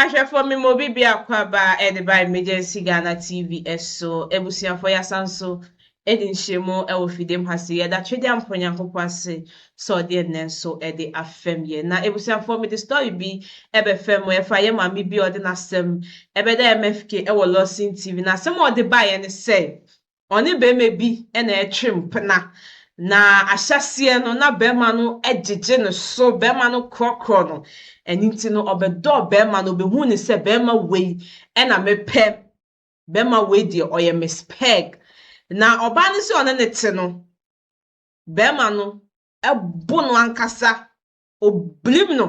Ahwɛfoɔ mema obi biako aba a ɛde ba Emergency Ghana TV so. Abusuafoɔ yɛasan so adi nhyiamu wɔ fidiem ha se yɛda twedeɛ ampa Onyankopɔn ase sɛ ɔde ɛnnɛ nso de afɛm yɛn. Na abusuafoɔ mede story bi bɛfɛm mo ɛfa yɛn maame bi a ɔde n'asɛm bɛda MFK wɔ Lawson TV. Na asɛm a ɔde baeɛ ne sɛ ɔne barima bi na ɛretwe mpena, na ahyɛseɛ no na barima no gyegye ne so, barima no korɔkorɔ no, ɛno nti no ɔbɛdɔɔ barima no, ɔbɛhuu no sɛ barima wei na mepɛ, barima wei deɛ ɔyɛ me spɛɛg. Na ɔbaa no sɛ ɔne no te no, barima no bo no ankasa obirim no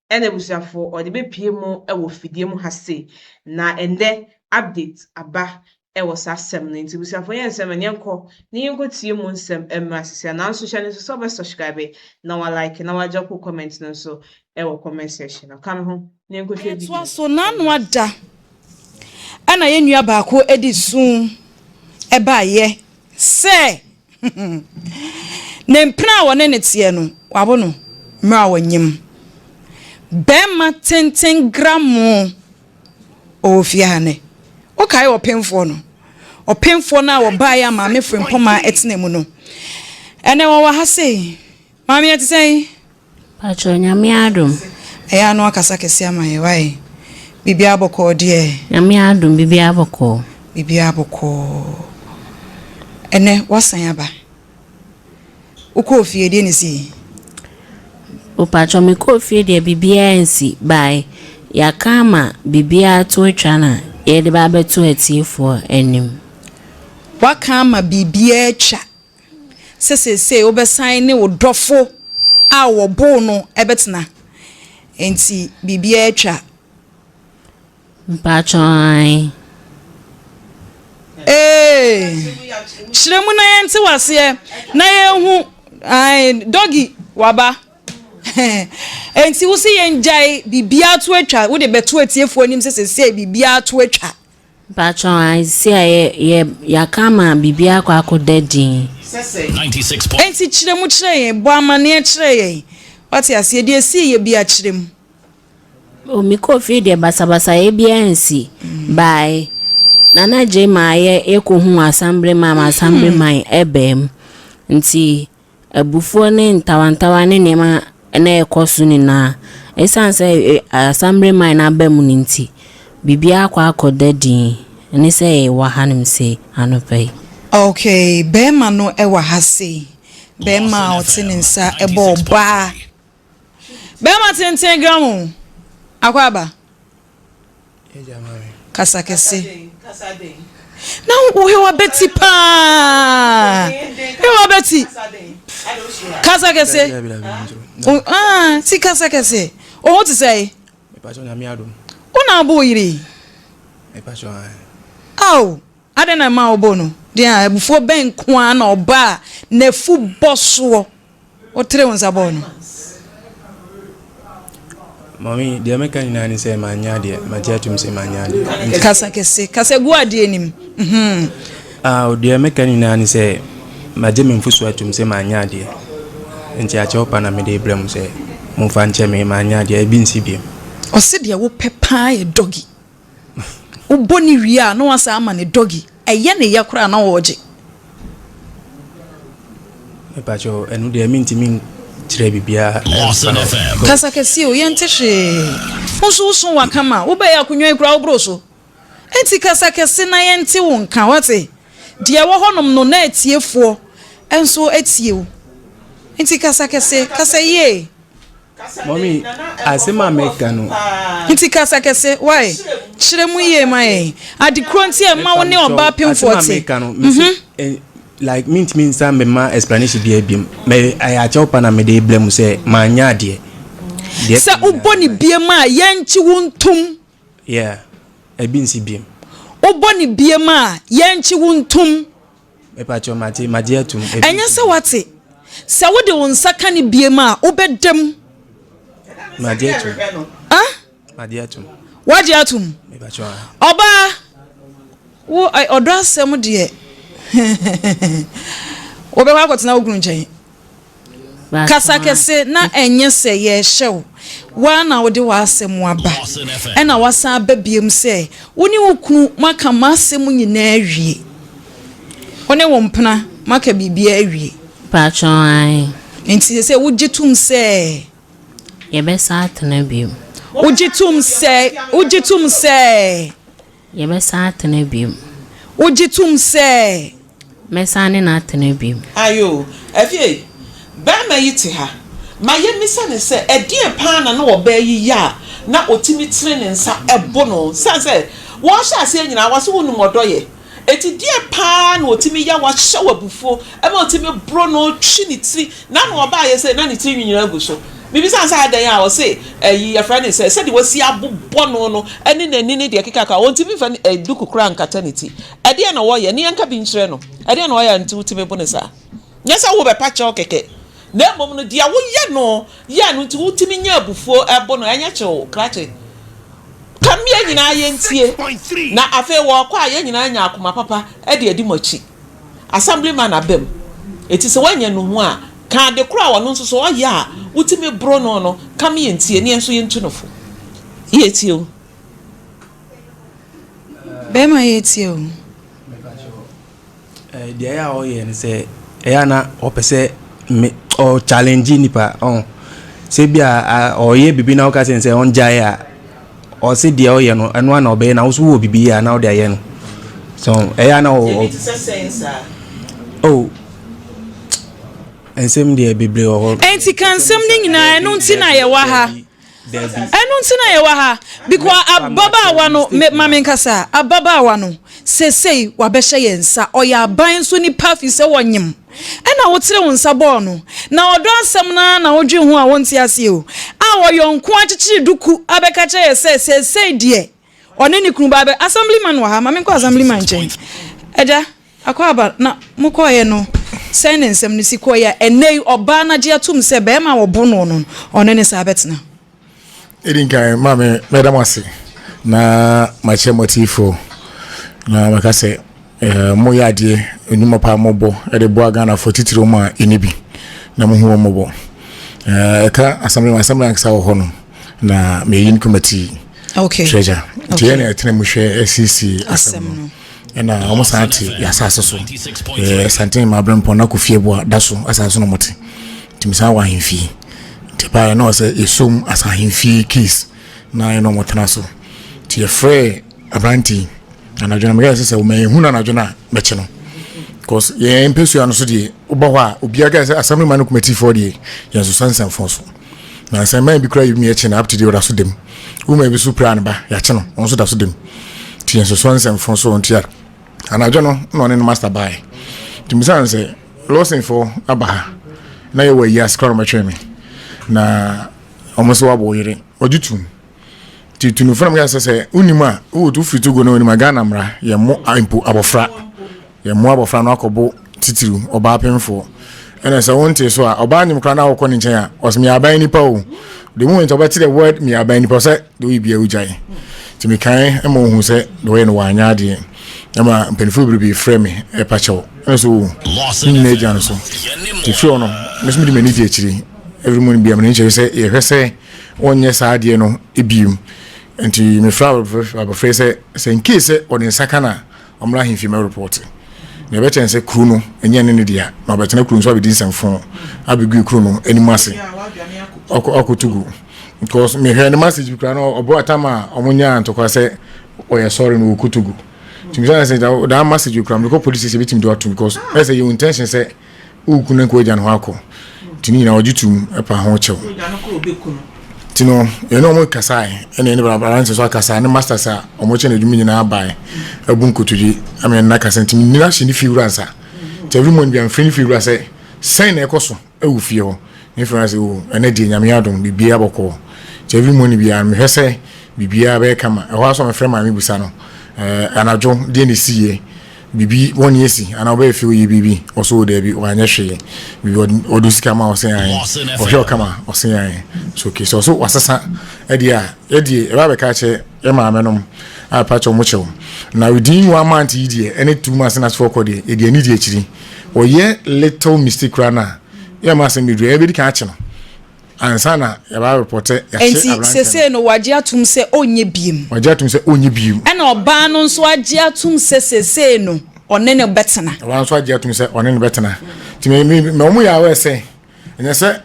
na abusuafoɔ ɔde bɛpie mo wɔ fidie mu ha se na ɛndɛ update aba wɔ saa asɛm no nti abusuafoɔ yɛ nsɛm ɛneɛ nkɔ ne yɛnkɔ tie mu nsɛm mmra sisia nanso hyɛ ne nso sɛ wobɛ subscribe na wa like na wa drop comment no nso wɔ comment section no ka me ho Yɛtoa so, N'ano ada na yɛn nua baako de su baeɛ sɛ ne mpena a wɔne no teɛ no, wawo no mmerɛ a ɔnyem. Barima tenten gramoo ɔwɔ fie ha nnɛ. Wokae ɔpemfoɔ no? Ɔpemfoɔ no a ɔbaeɛ a maame Frimpong maa ɛtenaa mu no, ɛnnɛ ɔwɔ ha sei. Maame yɛ te sɛn? Pakyɛw nyame adom. Ɛyɛ a na wakasa kɛse ama yɛ wai? Biribiara bɔkɔɔ deɛ? Nyame adom biribiara bɔkɔɔ. Biribiara bɔkɔɔ. Ɛnɛ wasan aba? Wokɔɔ fie deɛ na ɛsii? O pakyɛw me kɔɔ fie deɛ biribiara nsi bae. Yɛaka ama biribiara to atwa na yɛde ba abɛto atiefoɔ anim. Waka ama biribiara atwa sɛ seesei wobɛsan ne wo dɔfo a wɔbow no bɛtena, enti biribiara atwa. Mpacho ae. Ee, kyerɛ mu na yɛnte waseɛ na yɛnhu ae doggy waba enti wo se yɛngyae biribiara to atwa wode bɛto atiefoɔ anim sɛ seesei biribiara to atwa. Mpakyɛw a esi a yɛ yɛ yɛaka ama biribi akɔ akɔ da din. Enti kyerɛ mu kyerɛ yɛn, bɔ amaneɛ kyerɛ yɛn, wate aseɛ, deɛ ɛsii yɛ biara kyerɛ mu. O me kɔɔ fie deɛ basabasayɛ biara ansi, baae Nana Gyei maa yɛ yɛkɔ huu asambre maa ma asambre man ɛbaa mu nti. Abufuo ne ntawantawa ne nneɛma a na ɛrekɔ so nyinaa, ɛsiane sɛ asammere man no aba mu no nti, biribiara akɔ akɔ da dinn ne sɛ yɛwɔ hanom sei anɔpa yi. Ok, barima no wɔ ha sei. Barima a ɔte ne nsa bɔ ɔbaa. Barima tenten gram o, akwaaba. Kasa kɛse. Na wohewa bɛti paa. Hewa bɛti. Kasa kɛse. Ah, si kasa kɛse. Oho te sɛ yi. Wona abo yiri. Ao. Adɛn na ɛmaa wɔbɔɔ no din a abufuo bɛn nko ara na ɔbaa n'afubɔ soɔ? Wotree wo nsa bɔɔ no. Mɔmi, deɛ mɛka nyinaa ne sɛ manyɛ adeɛ, magye atom sɛ manyɛ adeɛ. Kasa kɛse, kasa gu adeɛ anim. Mhm. Ah, deɛ mɛka nyinaa ne sɛ magye me mfoso atom sɛ manyɛ adeɛ. Nti akyɛw pa na mede rebrɛ mo sɛ momfa nkyɛ me, manyɛ adeɛ, ebi nsi bio. Ɔse deɛ wopɛ paa yɛ doggy. Wobɔ no wie a na wasan ama no doggy. Ɛyɛ no yɛ koraa na ɔregye. Mepakyɛw, ɛno deɛ mentumi nkyerɛ biribiara mfa no ho. Kasa kɛseɛ o, yɛnte hwee. Wo nso wo so waka ma wobɛyɛ akonnwa yi koraa woboro so. Enti kasa kɛse na yɛnte wo nka, woate? Deɛ ɛwɔ hɔnom no na atiefoɔ nso atie wo. Enti kasa kɛse, kasa yie. Mummy, asɛm a meka no. Nti kasa kɛse, why? Kyerɛ mu yie ma yɛn. Ade korɔ nti a ɛma wo ne ɔbaa pemfoɔ te. Asɛm a meka no, me se, eh, like mentumi nsa mema explanation biara biom. Me, ɛyɛ akyɛw pa na mede rebrɛ mu sɛ manyɛ adeɛ. Deɛ Sɛ wobɔ ne biom a, yɛngye wo ntom. Yeah, ɛbi nsi biom. Wobɔ ne biom a, yɛngye wo ntom. Mepakyɛw, mate, magye atom. Ebi. Ɛnyɛ sɛ woate. Sɛ wode wo nsa ka no biem a, wobɛda mu. Magye atom. Ah? Magye atom. Wagye atom? Mepakyɛw, ah. Ɔbaa, wo, ɔdɔ asɛm deɛ, wobɛkɔ akɔtena wo kunu nkyɛn. Kasa kɛse na ɛnyɛ sɛ yɛrehyɛ wo. Wo ara na wode w'asɛm aba, ɛnna woasan aba biom sɛ wo ne wo kunu moaka m'asɛm nyinaa awie. Wo ne wo mpena moaka biribiara awie. Mpatsɔ ae. Enti sɛsɛ wogye tom sɛ. Yɛbɛsan atena biom. Wogye tom sɛ, wogye tom sɛ. Yɛbɛsan atena bio. Wogye tom sɛ. Mɛsan ne no atena bio. Ae o. Afei, barima yi te ha. Ma yemmisa no sɛ, ɛdeɛn paa na na ɔbaa yi yɛ a na ɔtumi tene ne nsa bo no? Ɛsiane sɛ wɔhyɛ aseɛ nyinaa no, wɔse wonim ɔdɔ yɛ. Enti deɛn paa na ɔtumi yɛ a wahyɛ wo abufuo ma wotumi boro no, twi ne tiri, Na no ɔbaeɛ sɛ na ne tiri nwi nyinaa gu so. Mebisaa no sɛ adɛn a, ɔse ɛyi yɛfrɛ no sɛ, sɛdeɛ wasi abobɔ no no ne n'ani ne deɛ ɛkeka ka ho, ɔntumi mfa duku koraa nkata ne ti. Ɛdeɛn na wɔyɛ? Ne yɛnka bi nkyerɛ no. Ɛdeɛn na wɔyɛ a nti wotumi bo no saa? Nyɛ sɛ wobɛpa kyɛw kɛkɛ, na mmom no deɛ woyɛ no yɛ no nti wotumi nya abufuo bo no. Ɛnyɛ kyew krakye. Come yɛn nyinaa yɛntie. Na afei wɔɔkɔ a yɛn nyinaa nya akoma papa de adi mo akyi. Assemblyman aba mu. Enti sɛ woannya nnuhu a, ka ade koro a ɔno nso so ɔyɛ a wotumi boro no no ka ma yɛntie, na yɛn nso yɛntu no fo. Yɛretie o. Bɛrima yɛretie o. Deɛ ɛyɛ a ɔyɛ no sɛ ɛyɛ a na ɔpɛ sɛ me ɔ challenge nipa ɔn sɛ bi a ɔyɛ biribi na ɔka sɛ sɛ ɔngyae a. Ɔse deɛ ɔyɛ no ɛno ara na ɔbɛyɛ na wo nso wowɔ bibi a na wode ayɛ no so ɛyɛ a na ɔ. Yɛbi te sɛ sɛn saa. Oh nsɛm deɛ bebree wɔ hɔ. Ɛnti ka nsɛm no nyinaa ɛno nti na yɛwɔ ha ɛno nti na yɛwɔ ha because ababaawa no me ma me nkasa ababaawa no sesei wabɛhyɛ yɛn nsa ɔyɛ aban nso nipa fi sɛ wɔnyem. Ɛna wotere wo nsa bɔɔ no. Na ɔdɔ asɛm no ara na wodwen ho a wonte aseɛ o. A ɔyɔ nko ara kyekyere duku abɛka kyerɛ yɛ sɛ seesei deɛ ɔne ne kunu ba abɛ Assemblyman wɔ ha ma menkɔ Assemblyman nkyɛn Agya Akwaaba na mokɔeɛ no sɛn na nsɛm no si kɔeɛ a ɛnnɛ yi ɔbaa no agye atom sɛ barima a wɔbo noɔ no ɔne ne saa bɛtena? Ɛdi nkan, maame, mɛda mo ase na makyerɛ mo atiifoɔ na mɛka sɛ eh, moyɛ adeɛ nnwuma paa mobɔ de boa Ghanafoɔ titire wɔn a ɛni bi na mohu wɔn mmɔbɔ. Eh, ɛka asɛmblɛ mu asɛmblɛ ankasa wɔ hɔ no na meyɛ yin kɔmati okay. treasure nti okay. yɛ na ɛtena mu hwɛ asiesie asɛm no ɛna wɔn san te yɛ asase so ɛɛ santen maa abirɛ mpɔn na kɔ fie bo a da so asase na wɔn te tìmí san wɔ ahemfie te paa yɛ na wɔn sɛ esom asa ahemfie keys na yɛ na wɔn tena so te yɛ frɛ aberante anadwo na mɛka sɛ sɛ wɔn ehun anadwo na mɛkye no cause yɛn mpɛsua no so deɛ wobɔ hɔ a obiara ka sɛ assembly man no kɔmɛtifoɔ deɛ yɛn nso sansanfoɔ so. Nansa mmaa bi koraa yɛtumi akyi no up to day ɔda so da mu. Woman bi so pira ne ba yɛakye no ɔno nso da so da mu. Nti yɛn soso nsɛmfo so nti a anadwo no na ɔne no master bae. Nti misa no sɛ lɔsɛnfo aba ha na yɛwɔ ayi ase koraa na ɔmɛtwɛn me na ɔmo nso wabɔ yere ɔgye tum. nti tunufo na mo yɛ sɛ sɛ wonim a wowɔ tu firi togo na wonim a ghana mmara yɛ mo mpo abɔfra yɛ mo abɔfra no akɔbo titiriw ɔbaa pemfoɔ ɛna sɛ wonte so a ɔbaa nim koraa na wokɔ ne nkyɛn a ɔsɛ me aban nipa o the moment ɔbɛte the word me aban nipa sɛ de woyɛ bia wogyae nti mekae ma wohu sɛ de wɔyɛ no wɔanyɛ adeɛ ɛma mpanimfoɔ bebrebe frɛ me ɛpa kyɛw ɛna so wo nyina agya no so nti firi ɔ no mɛsomedi m'ani di akyiri every morning bia mene nkyɛre sɛ yɛhwɛ sɛ wɔnyɛ saa adeɛ no biem. Nti mefrɛ abɔfra yi sɛ, sɛ in case sɛ ɔde nsa ka no a, ɔmmra ahemfie mmɛrepɔɔte. Nea ɛbɛkyɛ no sɛ kuro no nyɛ ne ne dea, na ɔbɛtena kuro no so abɛdi nsɛmfo abɛgui kuro no anim ase akɔto gu. Because mehwɛ ne message bi koraa na ɔbɔ atam a wɔnyaa ntɔkwa sɛ ɔyɛ sɔre no wɔkɔto gu. Nti mesɛ sɛ daa message koraa mekɔ police sɛ bɛtumi de atom because ɛsɛ yɛ intention sɛ Wo kunu no nka w'agya no ho akɔ. Nti ne nyinaa ɔgye tom pa ho kyɛw. Nti no, yɛne ɔmo kasae, ɛna yɛne Baranse nso akasa, ne masters a ɔmo kyɛ no adwuma nyinaa bae, abu nkotodwe ama yɛne no akasa. Nti menni no ahyɛ ne fiewura nsa. Nti every morning biara mefrɛ ne fiewura sɛ, sɛn na ɛkɔ so wɔ fie hɔ? Ne fiewura sɛ, oh, ɛnɛ deɛ Nyame adom, biribiara bɔkɔɔ. Nti every morning biara no mehwɛ sɛ biribiara bɛyɛ kama. Ɛhɔ ara nso a mefrɛ maame bisa no, eh, anadwo deɛ na ɛsiiɛ? biribi bɔne asi anaa wobɛyɛ fɛ woyɛ biribi ɔsɛ wo daabi wanyɛ hwee biribi ɔde sika ma ɔsɛ ayɛ ɔhwɛ ɔkama ɔsɛ ayɛ so okay so ɔsɛ wasesa ɛdeɛ a ɛdeɛ ɛbɛ abɛka kyɛ ɛmaame nom a ɛpa kyɛ ɔmo kyɛw na within one month yi deɛ ɛne two months na sefo kɔ deɛ ɛdeɛ ne deɛ akyiri ɔyɛ little mistake koraa na yɛ ma asɛm bɛduru ɛbɛdi kan akye no ansa na yɛba report sɛ yɛahyɛ aberanteɛ no. Nti sese no wagye atum sɛ ɔnyɛ biem. Wagye atum sɛ ɔnyɛ biem. Ɛna ɔbaa no nso agye atum sɛ sese no ɔne no bɛtena. Ɔbaa nso agye atum sɛ ɔne no bɛtena. Nti mɛ mɛ mɛ wɔn yɛ awɛ sɛ ɛnyɛ sɛ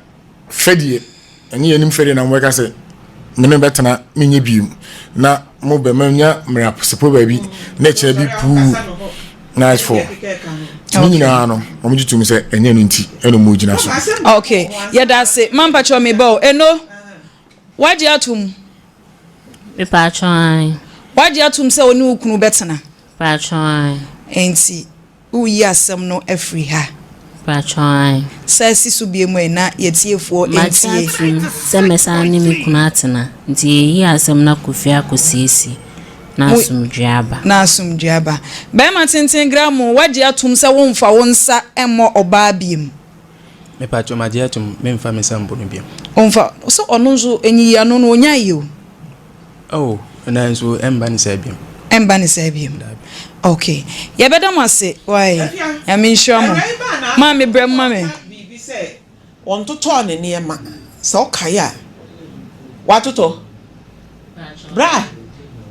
fɛdeɛ ɛne yɛn nim fɛdeɛ na wɔn bɛka sɛ mɛ ne bɛtena mɛ nyɛ biem na mo bɛma nya mmerɛ asepo baabi na ɛkyɛ bi puu. nice four ne nyinaa no wɔn gye tom sɛ ɛnyɛ no nti ɛna wɔn gyina so. okay yɛda ase mampa kyerɛ mi bɔ ɛno wagye atum. mepatwa an. wagye atum sɛ ɔne okunu bɛtena. patwa an. nti woyi asɛm no afiri ha. Mpatsɔ ae. Sɛ si so bio mu ɛ na yɛ tiefoɔ ntie. Magye atom sɛ mɛsan ne me kunu atena, nti yɛyi asɛm no akɔ fie akɔsiesie na Mo asomdwoeɛ aba. na asomdwoeɛ aba. Barima tenten Gramo, woagye atom sɛ womfa wo nsa mmɔ ɔbaa biom? Mepaatwo, magye atom, memfa me nsa mbo no biom. Ɔmfa, sɛ ɔno nso, ɛnyiyi ano no, ɔnyae o. Oh, nanso ɛmba ne saa biom. Ɛmba ne saa biom. Okay. Yɛbɛda mo ase, why? Nyame nhyira mo. Maame brɛ mo ma me. Biribi sɛ wɔntotɔɔ ne nneɛma. Sɛ wokae a, watotɔ? Bra.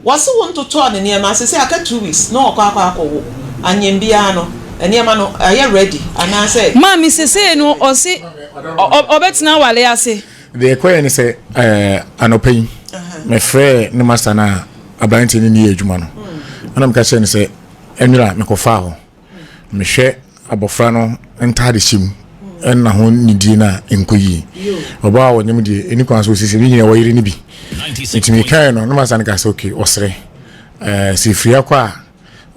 Wɔse wontotɔɔ ne nneɛma. Sesei aka two weeks na ɔkɔ akɔ akɔwo. Anyɛ biara no, nneɛma no ayɛ ready anaasɛ? Maame sesei no ɔse ɔbɛtena aware ase. Deɛ ɛkɔeɛ ne sɛ anɔpa yi mefrɛɛ ne masta no a aberanteɛ no niyɛ adwuma no ɛna meka kyerɛ no sɛ ɛnwera mekɔfaa hɔ mehwɛ abɔfra no ntaade hyɛ mu ɛna ho nidie no a ɛnkɔ yie ɔbaa a ɔnyem deɛ ɛni kwan so ɔsisi me nyina wɔyere no bi nti mekaeɛ no ne masta no ka sɛ ok ɔserɛ sɛ ɛfiri akɔ a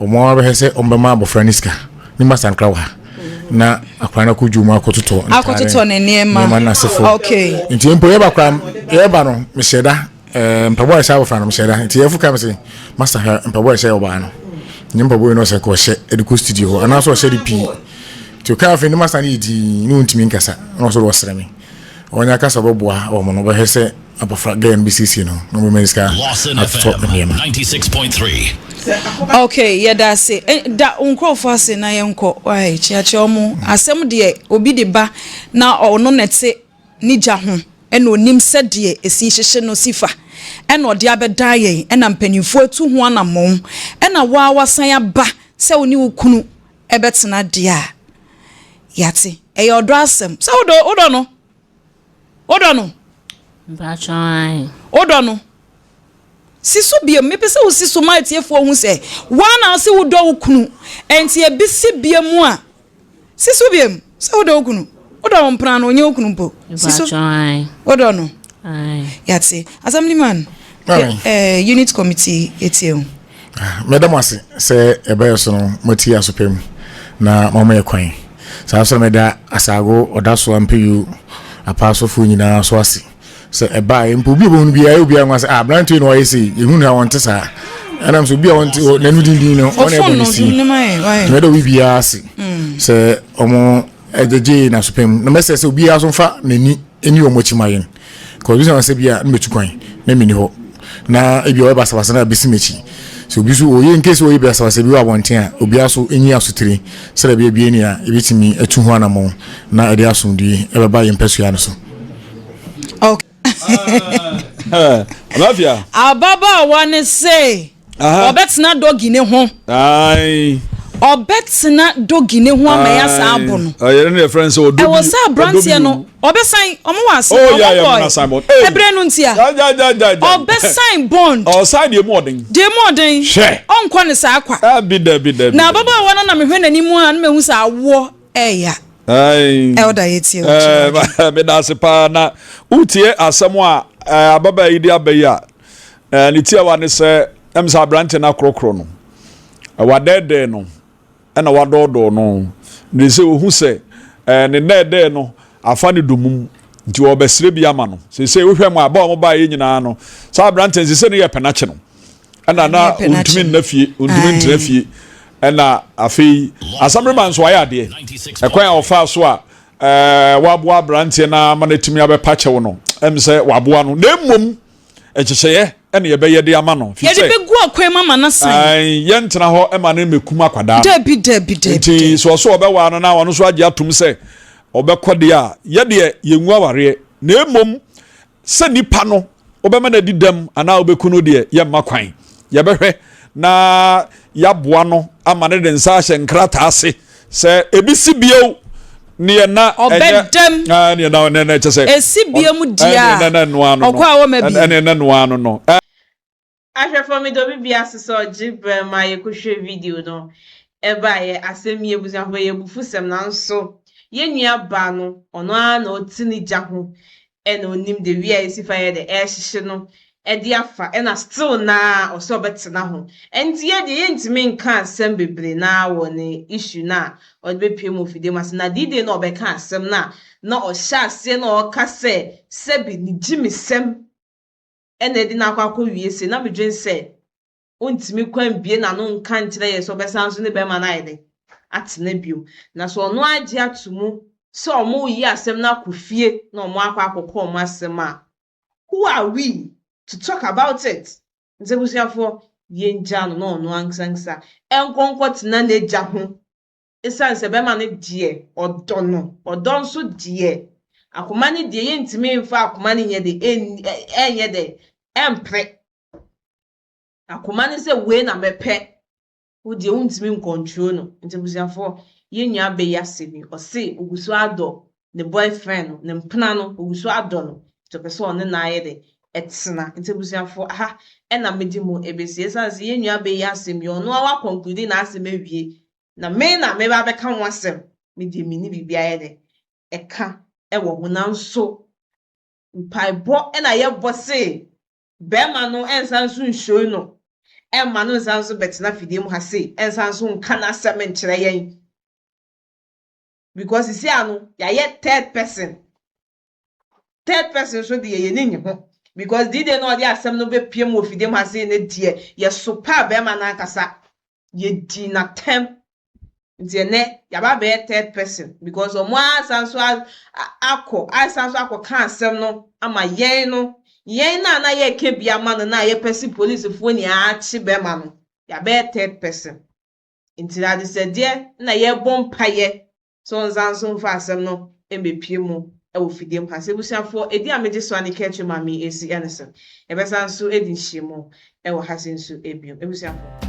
Wɔn ara bɛhwɛ sɛ wɔbɛma abɔfra no sika. Ne mma sankra wɔ ha. Na akwadaa no akɔ dwom akɔtotɔ ntaare. Akɔtotɔ ne nneɛma. Nneɛma no asefo. Okay. Nti mpo yɛba kora yɛba no mehyɛ da ɛɛ mpaboa a ɛhyɛ abɔfra no mehyɛ da. Nti yɛfo ka me sɛ masa hwɛ mpaboa a ɛhyɛ ɔbaa no. Nyɛ mpaboa yi na ɔsɛ nka ɔhyɛ ɛde kɔ studio hɔ anaasɛ ɔhyɛ de pii. Nti ɔkaa afei ne masa no yɛ dinn ne ɔntumi nkasa na ɔsɛ ɔsrɛ me. Wɔn ankasa bɛboa wɔn no bɛhwɛ sɛ abɔfra girl no bɛsiesie no na wɔbɛma no sika atotɔ nneɛma. ok yɛda ase eh, da nkurɔfoɔ ase na yɛnkɔ wae kyeakyea ɔmo hmm. asɛm deɛ obi de ba na ɔno na ɛte ne gya ho ɛna onim sɛdeɛ esi hyehye no si fa ɛna ɔde abɛdan yɛn ɛna mpanimfoɔ atu ho anammɔn ɛna waa wasan aba sɛ wo ne wo kunu ɛbɛtena deɛ a yɛate. Ɛyɛ ɔdɔ asɛm. Sɛ wodɔ, wodɔ no? Wodɔ no? Mpakyɛ ae. Wodɔ no? Si so biam. Mepɛ sɛ wosi so ma atiefoɔ hu sɛ woa na ɔse wodɔ wo kunu. Ɛnti ɛbi si biam a, si so biam sɛ wodɔ wo kunu. wodɔ wo mpena no ɔnyɛ wo kunu mpo siso wodɔ no yɛate assemblyman eh, unit committee yɛtie ho ah, mɛda mo ase sɛ ɛbɛyɛ so no moatie asopɛ mu na mama yɛ kwan saa sɛ mɛda asaago ɔda so ampeyu apaasofoɔ nyinaa so ase sɛ ɛbaa yɛ mpo obi ɔbɛhu no biara obiara nwa sɛ ah aberanteɛ na ɔyɛ sei yɛhu no a wɔnte saa ɛnam sɛ obi a wɔnte n'anu dindin no ɔne ɛbɔ ne si mɛda obi biara ase mm. sɛ ɔmo Ɛgyegyee n'asopɛn mu. Na mɛsɛ sɛ obiara nso mfa n'ani nni wɔn akyi ma yɛn. Because bisa wɔn sɛ bi a na metu kwan, na menni hɔ. Na ebi a ɔyɛ basabasa na abesi m'akyi. Sɛ obi nso ɔyɛ nkesi ɔyɛ basabasa bi wɔ abɔnten a, obiara nso nyi asotire sɛdeɛ ɛbɛyɛ bie nea yɛbɛtumi atu ho anammɔn na ɛde asomdwoeɛ bɛba yɛn mpɛsoa no so. ababaawa no se ɔbɛtena dɔgi ne ho ɔbɛtena dɔgi ne ho ama yɛ saa abo no ɛwɔ sɛ aberanteɛ no ɔbɛsan ɔmo wɔ ase oh, ɔmo bɔ ɛbrɛ no ntia ɔbɛsan bond ɔsan deɛ mu ɔden deɛ mu ɔden hwɛ ɔnkɔ ne saa kwa na ababaawa no na mehwɛ n'anim a na mehu sɛ awoɔ Ɛya. Elder yɛtie wo kyerɛ. Meda ase paa na wotie asɛm a ababaa yi de aba yi a ne tiawa ne sɛ ɛm sɛ aberante no akorɔkorɔ no wadɛɛdɛɛ no ɛna wadɔɔdɔɔ no na sɛ ɔhu sɛ ne nnɛɛdɛɛ no afa ne domum nti ɔbɛsrɛ bi ama no sɛ sɛ wohwɛ mu a ba ɔmo baeɛ nyinaa no saa aberante no sɛ sɛ ne yɛ pɛnakye no ɛna na ɔntumi nna fie ɔntumi ntra fie ɛna afei asamrema nso ayɛ adeɛ ɛkwan a ɔfaa so a ɛɛ waboa aberanteɛ no ama no atumi abɛpa kyɛw no ɛm sɛ waboa no na mmom ɛkyekyɛeɛ ɛna yɛbɛyɛ de ama no fi sɛ yɛbɛgu akwan mu ama no san yɛntena hɔ ɛma no mmɛkum akwadaa dabi dabi dabi nti so ɔso ɔbɛwaa no na ɔno nso agye atom sɛ ɔbɛkɔ deɛ a yɛdeɛ yɛngu awareɛ na mmom sɛ nipa no wobɛma no adi dɛm anaa wobɛku no deɛ yɛmma kwan yɛbɛhwɛ na yɛaboa no ama no de nsa ahyɛ nkrataa ase sɛ ebi si bio neɛ na ɔbɛdɛm neɛ na ɔnɛ nɛ kyɛ sɛ esi bio mu deɛ a ɔkɔ a wɔma bi ɛnɛ nɛ noa no no Ahwɛfoɔ meda obi bia ase sɛ ɔgye berɛ ma yɛkɔ hwɛ video no ɛbaeɛ asɛm nie abusuafoɔ ɛyɛ abufusɛm nanso yɛn nua baa no ɔno ara na ɔte ne gya ho ɛna ɔnim the wia yɛsi fa yɛ dɛ ɛrehyehye no ɛde afa ɛna still naa ɔsɛ ɔbɛtena ho ɛnti yɛ deɛ yɛntumi nka asɛm bebree naa wɔ ne issue no a ɔde bɛpue mu wɔ fidie mu ase na the day no a ɔbɛka asɛm no a na ɔhyɛ aseɛ na ɔreka sɛ sɛbi ne gyimi sɛm na ɛde no akɔ akɔwie sei, na medwene sɛ ɔntumi kɔ ambue n'ano nka nkyerɛ yɛn sɛ ɔbɛsan nso ne barima no ayɛ dɛn? atena bio. Na sɛ ɔno agye ato mu sɛ wɔreyi asɛm no akɔ fie na wɔakɔ akɔkɔ wɔn asɛm a, who are we to talk about it? Nti abusuafoɔ, yɛngyaa no na ɔno ankesankesa nkɔ nkɔtena n'agya ho esiane sɛ bɛrima no deɛ ɔdɔ no, ɔdɔ nso deɛ akoma no deɛ yɛntumi mfa akoma no nyɛ de ɛnyɛ dɛ ɛmpere akoma no sɛ wei na mɛpɛ wo deɛ wontumi nkɔntro no nti abusuafoɔ yɛn nua bɛyi ase bi ɔse ogu so adɔ ne boyfriend no ne mpena no ogu so adɔ no nti ɔpɛ sɛ ɔne na ayɛ dɛ ɛtena nti abusuafoɔ aha ɛna mede mu ɛbɛsi ɛsiane sɛ yɛn nua bɛyi asɛm yi ɔno awa conclude na asɛm awie na me na meba abɛka ho asɛm, me deɛ menni biribi a ɛyɛ dɛn ɛka wɔ ho, nanso mpaebɔ na yɛbɔ se barima no nsan nso nhyoi no, mma no nsan nso bɛtena fidie mu ha se nsan nso nka n'asɛm nkyerɛ yɛn, because sisi ano yɛayɛ third person Third person nso deɛ yɛn ani nnye ho because the day na ɔde asɛm no bɛpiem wɔ fidiem ha sei no deɛ yɛsopaa barima no ankasa, yɛdii no atɛm. Nti ɛnnɛ yɛaba abɛyɛ third person because wɔn ara asan nso akɔ asan nso akɔka asɛm no ama yɛn no. Yɛn no a na yɛreka bi ama no no a yɛpɛ se policefoɔ nyinaa akye barima no, yɛabɛyɛ third person. Nti adesɛdeɛ na yɛrebɔ mpaeɛ sɛ ɔnsan nso mfa asɛm no mmepue mu wɔ fidie mu ha. Sɛ abusuafoɔ edin a megye so a ne kɛtri ma me esi ɛno so, yɛbɛsan nso adi nhyiamu wɔ ha se nso bio. Abusuafoɔ.